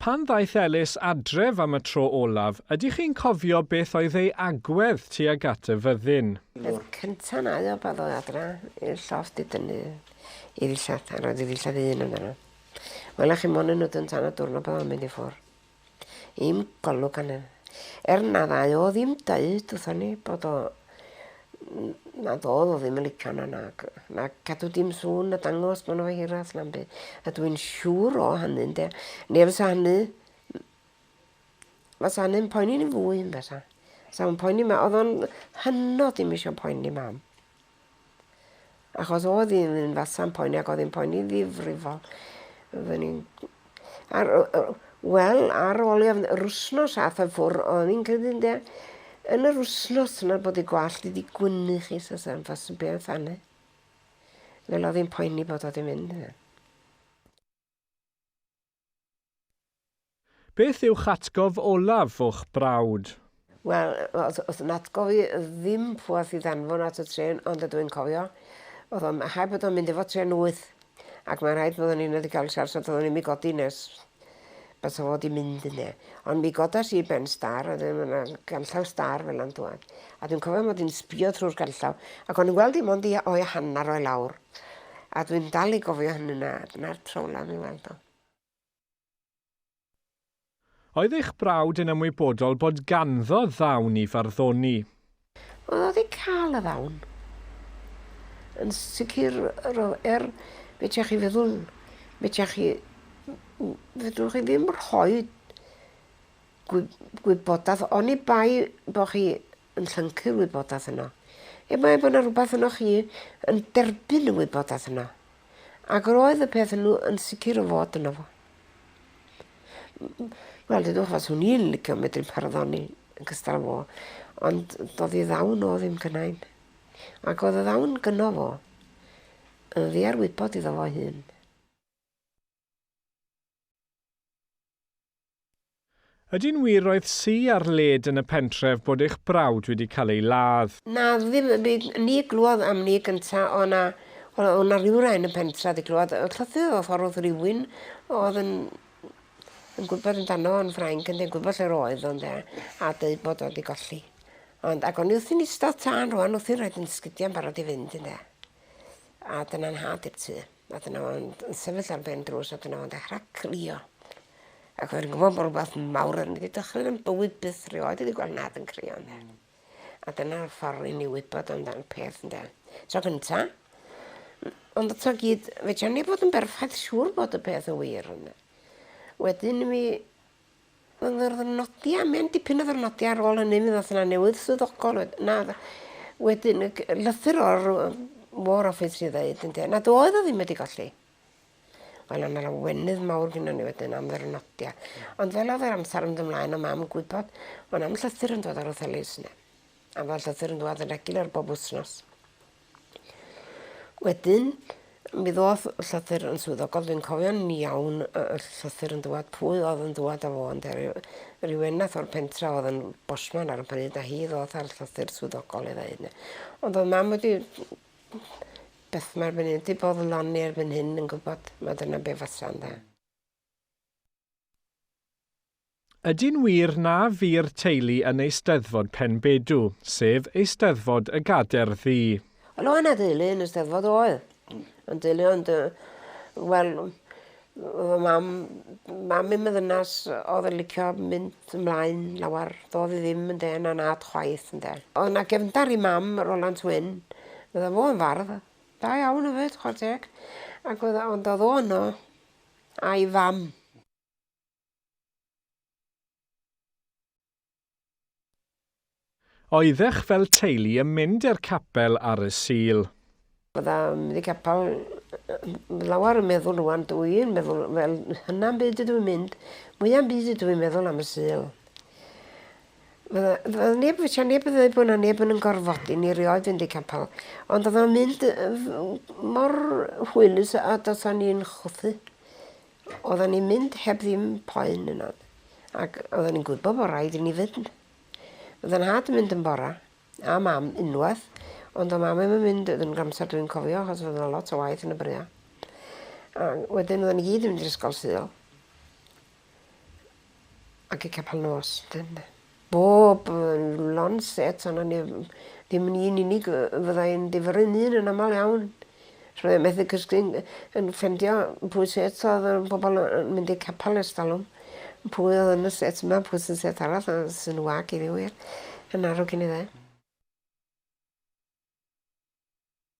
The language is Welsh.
Pan ddaeth Elis adref am y tro olaf, ydych chi'n cofio beth oedd ei agwedd tuag at y fyddin? Peth cynta nai o pan ddoe adra i'r llofft i dynnu i ddillad a roedd i ddillad un ynddo. Wela chi mond un nodyn tan y dwrnod pan oedd o'n mynd i ffwr. Dim golwg arno. Er na ddau o ddim deud wrthon ni bod o... na ddodd o ddim yn licio na nag na cadw dim sŵn na dangos bod 'no fo hirach na'm byd. A dwi'n siŵr o hynny ynde? Ne' fysa hynny fysa hynny'n poeni ni fwy yn bysa? Sa fo'n poeni ma- o'dd o'n hynod dim isio poeni mam. Achos oedd hi'n un fasa'n poeni ac oedd hi'n poeni ddifrifol. Oedden ni'n... Ar, wel, ar ôl i yr wsnos ath o ffwr, oedd hi'n credu de, yn yr wsnos yna bod ei gwallt wedi gwynnu chi sas am fas yn beth anna. Fel oedd hi'n poeni bod oedd hi'n mynd. Beth yw'ch atgof olaf o'ch brawd? Wel, oedd oedd yn atgof i ddim pweth i ddanfon at y trên ond ydw i'n cofio oedd o'n rhaid bod o'n mynd efo trên wyth ac mae'n rhaid bod o'n i wedi cael siarad oedd o'n ddim i godi nes bys o fod i mynd yne. Ond mi godas i ben star oedd ddim yna ganllaw star fel yna'n dŵad a dwi'n cofio mod i'n sbio trwy'r ganllaw ac o'n i'n gweld i mond i o'i hanner o'i lawr A dwi'n dal i gofio hynny na, dyna'r tro olaf i weld o. Oedd eich brawd yn ymwybodol bod ganddo ddawn i farddoni? Oedd o wedi cael y ddawn. Yn sicr ro- er fedrech chi feddwl fedrech chi m- fedrwch chi ddim rhoi gwy- gwybodaeth oni bai bo chi yn llyncu'r wybodaeth yno. Er mai bod 'na rwbath ynoch chi yn derbyn y wybodaeth yno. Ac yr oedd y peth yno yn sicr o fod yno fo. Wel, dydwch os hwn i'n licio medru parddoni yn cystal fo, ond doedd i ddawn o ddim gynnain. Ac oedd y ddawn gynno fo yn ddiarwybod iddo fo hun. Ydy'n wir roedd sy ar led yn y pentref bod eich brawd wedi cael ei ladd? Na ddim y byd ni glywed am ni gynta o na o na ryw rai yn y pentra di glywed y llythyr o ffordd oedd rywun oedd yn yn gwybod yn dano o'n ffrainc yn dweud gwybod lle'r oedd o'n de a dweud bod o di golli ond ac o'n i wrthi'n istod tan rwan wrthi'n rhaid yn sgidia'n barod i fynd yn de a dyna'n nhad i'r tŷ. A dyna fo'n yn sefyll ar ben drws a dyna fo'n dechra crio. Ac o'n i'n gwbo bo' rwbath mawr yn mynd i dychryn yn bywyd byth rioed wedi gweld nad yn crio ynde? Hmm. A dyna ffor i ni wybod amdan peth ynde? Tro cynta. M- ond eto gyd fedran ni fod yn berffaith siŵr bod y peth yn wir ynde? Wedyn mi Wel yr ddyrnodia mae'n dipyn o ddyrnodia ar ôl hynny mi ddath 'na newydd swyddogol wed- na odd yy wedyn y g- yy lythyr o'r yy War Office i ddeud ynde nad oedd o ddim wedi golli. Wel o' 'na lawenydd mawr gynnon ni wedyn am ddyrnodia. Ond fel o'dd yr amsar yn do' mlaen o' mam yn gwybod bo' 'na'm llythyr yn dod o'r Othellys 'ne. A ma' llythyr yn dŵad yn regular bob wsnos. Wedyn, mi ddoth llythyr yn swyddogol, dwi'n cofio'n iawn y llythyr yn dwad, pwy oedd yn dwad â fo ynde, ryw eneth o'r pentra oedd yn bosman ar y pryd a hi ddoth â'r llythyr swyddogol i ddeud 'ny. Ond oedd mam wedi beth mae'r erbyn hyn, 'di boddloni erbyn hyn yn gwybod mai dyna be fasa ynde. Ydy'n wir na fu'r teulu yn Eisteddfod Penbedw, sef Eisteddfod y Gader Ddu? Wel oedd 'na deulu yn y Steddfod oedd. Yn deulu ond yy wel yy fy mam mam i'm yn ddynas o'dd yn licio mynd ymlaen lawar do'dd 'i ddim yn dên anad chwaith ynde. O'dd 'na gefndar i mam Rolant Wyn fydda fo yn fardd da iawn efyd chwar teg ac o'dd o ond o'dd o yno a'i fam. Oeddech fel teulu yn mynd i'r capel ar y Sul? Bydda i'n mynd i capel lawer yn meddwl rŵan dw i'n meddwl wel hynna am byd ydw i'n mynd mwya am byd ydw i'n meddwl am y Sul. Fydda fydda neb fysa neb yn ddeud bo' 'na neb yn 'yn gorfodi ni erioed fynd i capel ond odd o'n mynd yy mor hwylus a do's o'n i'n chwythu. Oddan ni'n mynd heb ddim poen yna ag oddan ni'n gwybod bo' raid i ni fynd. O'dd 'yn nhad yn mynd yn bora, a mam unwaith, ond do' mam 'im yn mynd yn yr amser dwi'n cofio achos o'dd yna lot o waith yn y brea. A wedyn oddan ni gyd yn mynd i'r ysgol Sul. Ac y capel nos. Dyna. Bob lond set a 'na ni ddim ni yn unig yy fydda i'n difyrru'n un yn amal iawn. So mae o methu cysgu'n yy yn ffindio pwy sy eto fel yn pobol yy yn mynd i'r capal ers talwm. Pwy odd yn y set 'ma pwy sy'n set arall a sy'n wag i fi wir. Yn marw cyn iddo fe.